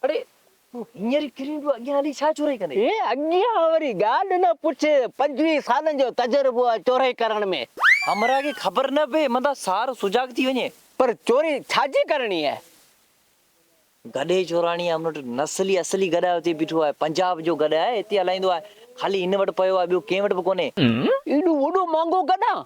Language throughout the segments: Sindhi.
اڙي تون هينئر ئي ڪري ايندو اڳيان هلي ڇا چورئي ڪندين؟ هي اڳيان وري ڳالهه نه پڇ پنجويهه سالن جو تجربو آ چورئي ڪرڻ ۾. همراهه کي خبر نه پئي مندا سار سجاڳ ٿي وڃي. پر چوري ڇا جي ڪرڻي آهي؟ گڏهي چوراڻي آهي ان وٽ نسلي اصلي گڏهه آهي اتي بيٺو آهي پنجاب جو گڏهه آهي اتي هلائيندو آهي خالي هن وٽ پيو آهي ٻيو ڪنهن وٽ به ڪونهي. ايڏو وڏو مهانگو گڏهه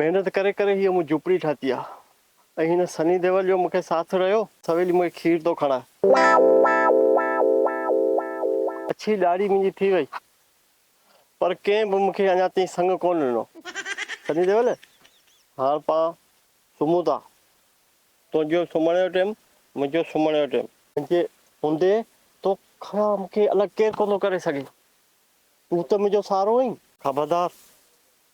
محنت ڪري ڪري هيء مون جهوپڙي ٺاهتي آ ۽ هن سني ديول جو مون کي ساٿ رهيو. سويلي مون کي کير ٿو کڻاء. اڇي ڏاڙهي منهنجي ٿي وئي پر ڪنهن به مون کي اڃا تائين سڱ ڪونه ڏنو. سني ديول، هاڻ پان سمهون ٿا. تنهنجو سمهڻ جو ٽيم، منهنجو سمهڻ جو ٽيم. منهنجي هوندي تو کان مون کي الڳ ڪير ڪونه ڪري سگهي. تون ته منهنجو سهارو آهين. خبردار!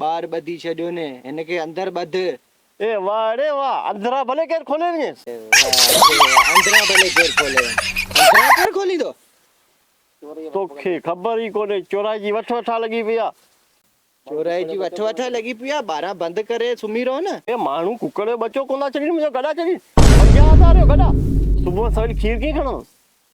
ٻاهر ٻڌي ڇڏيو ني هن کي اندر ٻڌ. اي واهه اڙي واهه اندران ڀلي ڪير کولي وڃيس. اي واهه اڙي واهه اندران ڀلي ڪير کولي وڃيس اندران ڪير کوليندو. توکي خبر ئي ڪونهي چورائي جي وٺ وٺا لڳي پئي آ. چورائي جي وٺ وٺا لڳي پئي آ ٻارهان بند ڪري سمهي رهو نه. اي ماڻهو ڪڪڙ جو ٻچو ڪونه ٿا ڇڏين منهنجا گڏا ڇڏين پنجاهه هزار جو گڏا صبح سويل کير ڪيئن کڻندس.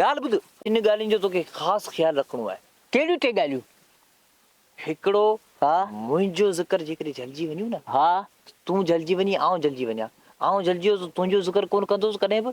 ڳالهه ٻڌ، ٽن ڳالهين جو توکي خاص خيال رکڻو آهي. ڪهڙيون ٽي ڳالهيون؟ هڪڙو، منهنجو ذڪر جيڪڏهن جهلجي وڃيو نه ته تون جهلجي وڃين، آئون جهلجي وڃان. آئون جهلجي ويس ته تنهنجو ذڪر ڪونه ڪندس ڪڏهن به.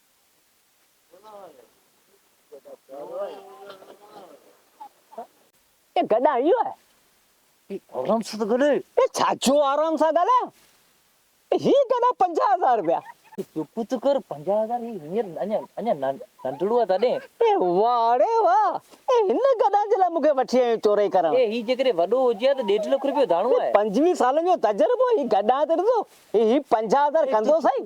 اي گڏا اهو آهي آرام سان ته ڳالهاء. اي ڇاجو آرام سان ڳالهايان هي گڏا پنجاهه هزار رپيا. اي چپ ته ڪر پنجاهه هزار هي هينئر اڃا اڃا ننڍڙو آهي تڏهن. اي واه اڙي واه اي هن گڏا جي لاء مونکي وٺي آيو چورئي ڪرڻ. اي هي جيڪڏهن وڏو هجي ها ته ڏيڍ لک رپيو داڻو آهي. پنجويهه سالن جو تجربو هي گڏا ته ڏسو هي پنجاهه هزار ڪندو سائين.